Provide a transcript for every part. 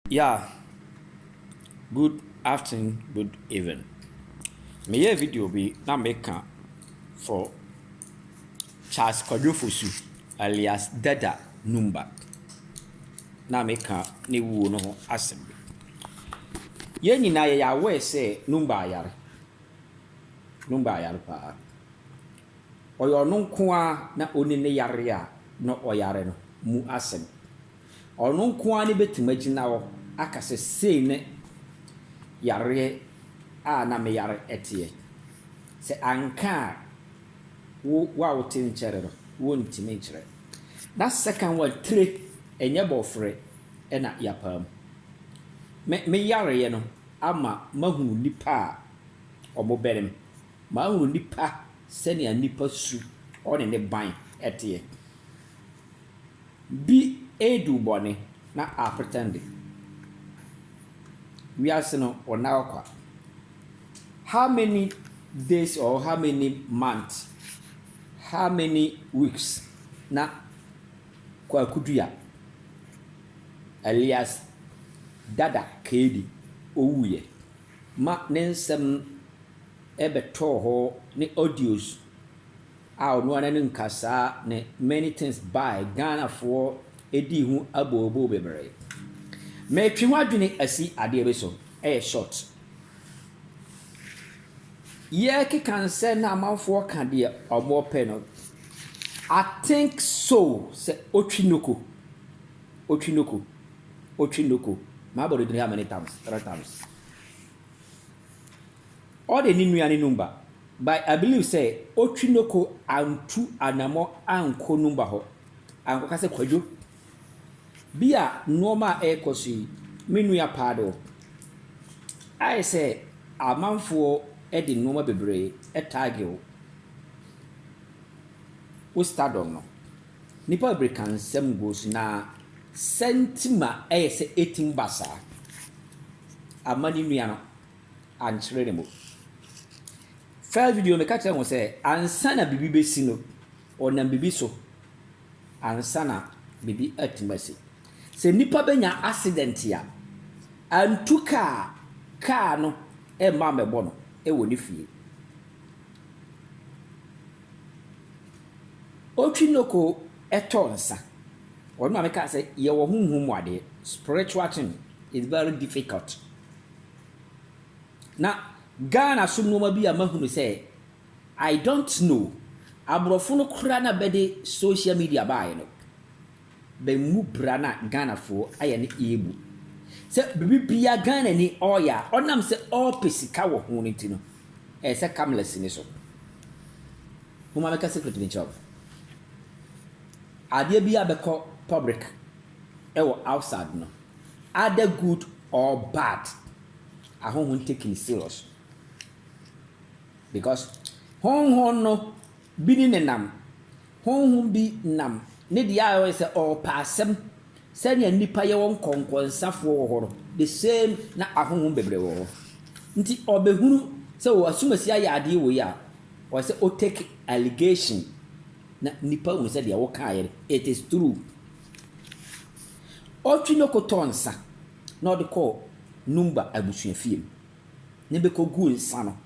Yeah good afternoon good even meyɛɛ video bi na meka for Charles Kwadwo Fosu alias Dada Numba na meka ne wuo no ho asɛm bi yɛn nyinaa yɛyɛ aware sɛ Numba ayare Numba ayare paa ɔyɛ ɔno nko ara na ɔnim ne yare a na ɔyare no mu asɛm Ɔno nko ara na ebetumi agyina hɔ aka sɛ sei ne yareɛ a na meyare teɛ. Sɛ anka a, wo wo a wote nkyɛre no, wontumi nkyerɛ. Na second one, tire, ɛnyɛ bɔɔfrɛ na yɛapaa mu. Me me yareɛ no ama mahunu nnipa a wɔbɛne me. Mahunu nnipa sɛnea nnipa su, ɔne ne ban teɛ. Bi redu bɔne na apretɛnde. Wiase no wɔnna hɔ kwa. How many days or how many month, how many weeks na Kwaku Dua alias Dada Kayidi owuiɛ ma ne nsɛm bɛtɔɔ hɔ ne audios. a ɔno ara no nkasaa ne Many Things bae Ghanafoɔ dii ho abooboo bebree. Meretwe ho adwene asi adeɛ bi so, ɛyɛ short. Yɛrekeka nsɛ na amanfoɔ ka deɛ wɔpɛ no, I think so sɛ Otwinoko, Otwinoko, Otwinoko, mabɔ ne din how many times, three times, ɔde ne nua no num ba. But I believe sɛ Otwi Noko antu anamɔ ankɔ Numba hɔ ankɔka sɛ Kwadwo, bi a nnoɔma a ɛrekɔ so yi, me nua paa de wɔ ho. Ayɛ sɛ amanfoɔ de nnoɔma bebree tag wo wo stardom no. Nnipa bebree ka nsɛm gu wo so na sɛ nti ma ɛyɛ sɛ ɛtumi ba saa. Amane nua no. ankyerɛ no mu. First video no meka kyerɛ mo sɛ ansa na biribi bɛsi no, ɔnam biribi so ansa na biribi atumi asi. Sɛ nipa bɛnya accident a, antu kaa, kaa no mma mmɛbɔ no wɔ ne fie. Otwi noko tɔ nsa. Ɔno na meka sɛ yɛwɔ honhom mu adeɛ, spiritual thing is very difficult. Na Ghana so nnoɔma bi a mahu no sɛ, I don't know, aborɔfo no koraa no a bɛde social media baeɛ no, bɛmmu bra no a Ghanafoɔ ayɛ no yɛbu. Sɛ biribiara Ghanani ɔreyɛ a, ɔnam sɛ ɔrepɛ sika wɔ ho no nti no, ɛyɛ sɛ cameras no so. Momma meka secret bi nkyerɛ mo. Adeɛ biara a bɛkɔ public wɔ outside no, Either good or bad, ahonhom take no serious because honhom no bi ne nenam, honhom bi nam ne deɛ a ɔyɛ sɛ ɔrepɛ asɛm sɛdeɛ nnipa yɛ wɔn nkɔnkɔnsafoɔ wɔ hɔ no the same na ahonhom bebree wɔ hɔ nti ɔbɛhunu sɛ wɔ asumasi ayɛ adeɛ wei a ɔyɛ sɛ o take allegation na nnipa hunu sɛ deɛ wokaeɛ no it is true. Ɔtwe no kɔtɔɔ nsa na ɔde kɔɔ Numba abusuafie mu na bɛkɔguu nsa no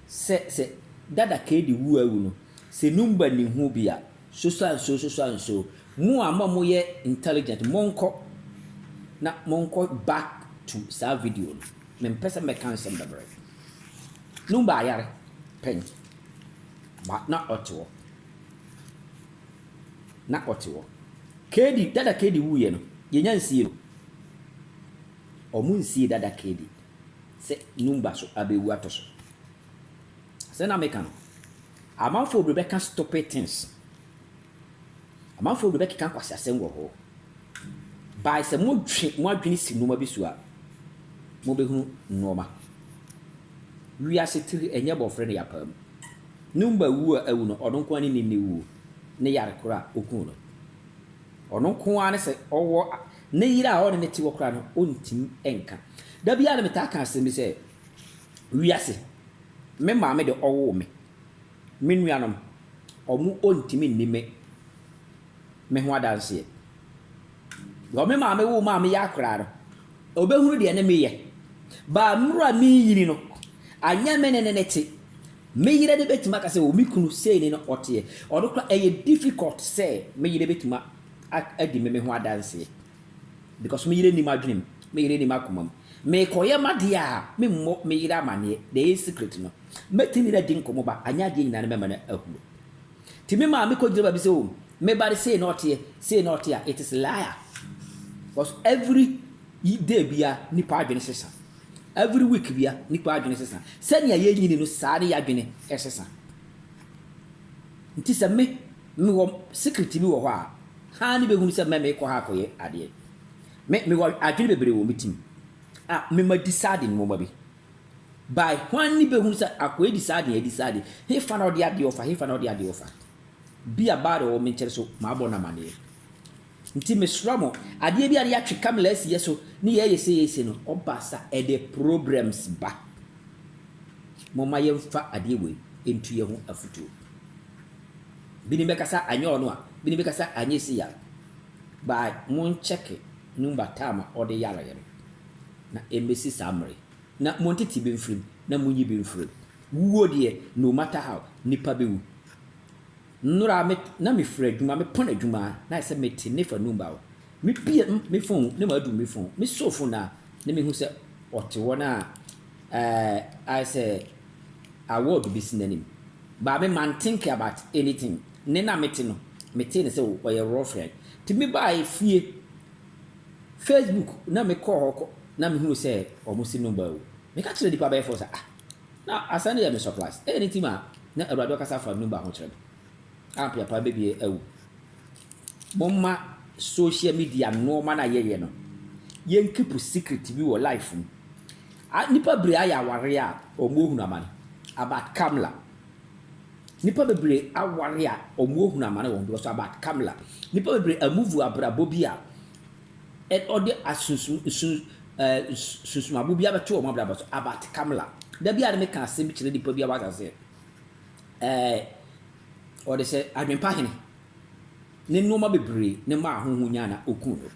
sɛ sɛ Dada Kadi wu awu no, sɛ Numba nni ho bi a, Sosuansoo Sosuansoo, mo a mo a moyɛ intelligent monkɔ na monkɔ back to saa video no, mempɛ sɛ mɛka nsɛm bɛbrɛ. Numba ayare pɛn, but na ɔte hɔ. na ɔte hɔ. Katie, dada Katie wuiɛ no, yɛnnya nsiee no. Wɔnsiee dada Katie sɛ Numba so abɛwu atɔ so. Sɛ na meka no, amanfoɔ bebree bɛka stupid things. Amanfoɔ bebree bɛkeka nkwaseasɛm wɔ hɔ. By sɛ motwe mo adwene si nnoɔma bi so a, mobɛhunu nnoɔma. Wiase tiri ɛnyɛ bɔfrɛ na yɛapaa mu. Numba wu a awu no, ɔno nko ara ne ne ne wu ne yare koro a oku no. Ɔno nko ara ne sɛ ɔwɔ ne yere a ɔne no te hɔ koraa no, ontumi nka. Da biara na metaa ka asɛm bi sɛ, wiase, me maame de ɔwoo me, me nuanom, wɔntumi nni me me ho adanseɛ. Because me maame woo me a meyɛ akoraa no, ɔbɛhunu deɛ ne meyɛ. But mmerɛ a merenyini no, anyɛ me ne ne ne te. Me yere de betumi aka sɛ, oh me kunu sei ne na ɔteɛ. Ɔno koraa ɛyɛ difficult sɛ me yere betumi adi me me ho adanseɛ because me yere nni m'adwene mu, me yere nni m'akoma mu. Mekɔyɛ m'adeɛ a me mmɔ me yere amaneɛ, deɛ ɛyɛ secret no. Mɛte ne yere adi nkɔmmɔ but anyɛ adeɛ nyinaa no mɛma no ahunu. Nti me maame kɔ gyina baabi sɛ oh me ba de sei na ɔteɛ, sei na ɔteɛ a it is liar because every Yi da bia nipa adwene sesa. Every week bia nipa adwene sesa. Sɛnea yɛ nyini no saa ne yadwene ɛsesa. Nti sɛ me me wɔ secret bi wɔ hɔ a haa ne bɛhunu sɛ mɛ me kɔ ha akɔyɛ adeɛ. Me me wɔ adwene bebree wɔ me tim a me ma di saa de nnoɔma bi. By hwan ne bɛhunu sɛ akɔ edi saa de adi saa de. He fa na ɔde adeɛ ɔfa he fa na ɔde adeɛ ɔfa. Bia baa de ɔwɔ me nkyɛn so ma abɔ no amaneɛ. Nti mesrɛ mo, adeɛ biara no yɛatwe kamela asi yɛ so ne yɛɛyɛ sei yɛɛyɛ sei no, ɔba sa ɛde problems ba. Momma yɛmfa adeɛ wei ntu yɛ ho afutuo. Binom bɛkasa anyɛ ɔno a, binom bɛkasa anyɛ sei a, by monkyɛke number time a ɔde yareɛ no, na ɛmmɛsi saa mmerɛ yi. Na montete bi mfiri mu, na monyi bi mfiri mu. Wuo deɛ no matter how, nnipa bɛwu. Nnora a me na me firi adwuma, me pɔn adwuma na ayɛ sɛ me te ne fanu mba o. Me bie me fon na ma adum me fon, me soo fon na na me hu sɛ ɔte hɔ na eh ayɛ sɛ awɔɔd bi si n'anim. But me man tink about anytin, nne na me te no me tee ne sɛ ɔyɛ rɔfrɛn. Nti me baaɛ fie, facebook na me kɔɔ hɔ kɔ na me hunu sɛ ɔmo si numba o. Me ka kyerɛɛ nipa bɛyɛ fɔɔ sɛ ah. Na asan no yɛ me surprise ɛyɛ ne ti ma na awurade ɔkasa afa nuba ho kyerɛ me a mpe apaa bebie awu mo mma social media nnoɔma no a yɛyɛ no yɛ nkipu secret bi wɔ life mu a nipa bere ayɛ aware a ɔmo ohunu amane about kamla nipa bebree aware a ɔmo ohunu amane wɔn brɛ so about kamla nipa bebree amuvu abrabɔ bi a ɔde asunsum sun ɛɛ sunsum abo bi abɛto wɔn abrabɔ so about kamla da bi a ne meka asɛm bi kyerɛ nipa bi a wata sɛ ɛɛ ɔde sɛ adwempa hene ne nneɛma bebree ne maa ho ho nyaa na okuu no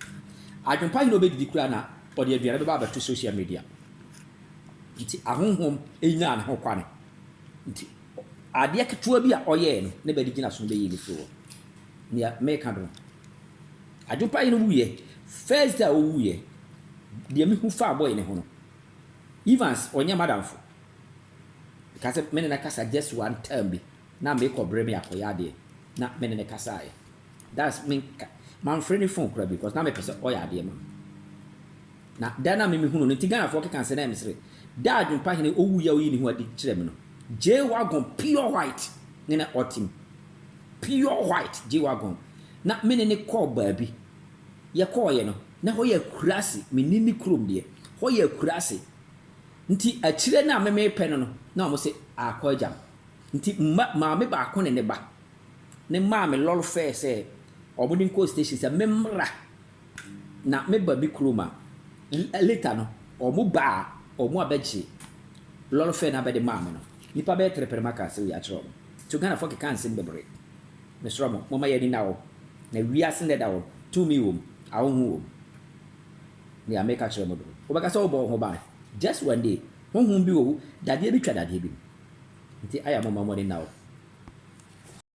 adwempa hene obedidi kura na ɔde aduane bɛba abɛto social media nti ahohom enyaa ne ho kwane nti adeɛ ketewa bi a ɔyɛɛ no ne bɛde gyina so no bɛyi ne firi hɔ nea meka do Adwopa yi no wuiɛ, first day a ɔwuiɛ, deɛ mehu faa boy no ho no, Evans ɔnyɛ m'adamfo. Mekaa sɛ me ne no kasa just one term bi na meekɔ brɛ me akɔyɛ adeɛ na me ne no kasaeɛ. That's me nka, mamfrɛ ne phone koraa bi cause na mepɛ sɛ ɔyɛ adeɛ ma me. Na da no a me mehunu no nti Ghanafoɔ keka nsɛ na ɛyɛ me sere. Da a Adwompahene ɔwuiɛ a ɔyii ne ho adi kyerɛɛ me no, J-Wagon pure white ne na ɔte mu. Pure white J-Wagon. Na me ne no kɔɔ baabi. Yɛkɔeɛ no, na hɔ yɛ akuraase, mennim ne kurom deɛ. Hɔ yɛ akuraase. Nti akyire no a me mepɛ no no, na wɔn se aakɔ agyam. Nti mma, maame baako ne ne ba no maa me lɔrfɛɛ sɛ wɔn ne nkɔ station sɛ me mmra na me ba me kurom a. Later no, wɔn baa wɔn a bɛgye lɔrfɛɛ no abɛde maa me no, nnipa bɛyɛ trɛpɛ no maka asem wei akyerɛ wɔn. To Ghanafoɔ keka nsem bebree. Mesrɛ mo, momma yɛn ani nna hɔ, na wiase nnɛ da hɔ, tumi wom, ahonhom wom. Nea meka kyerɛ mo no, wobɛka sɛ wobɔɔ ho ban, just one day, honhom bi wɔ hɔ, dadeɛ bi twa dadeɛ bi mu. Nti ayɛ a momma mo ani nna hɔ.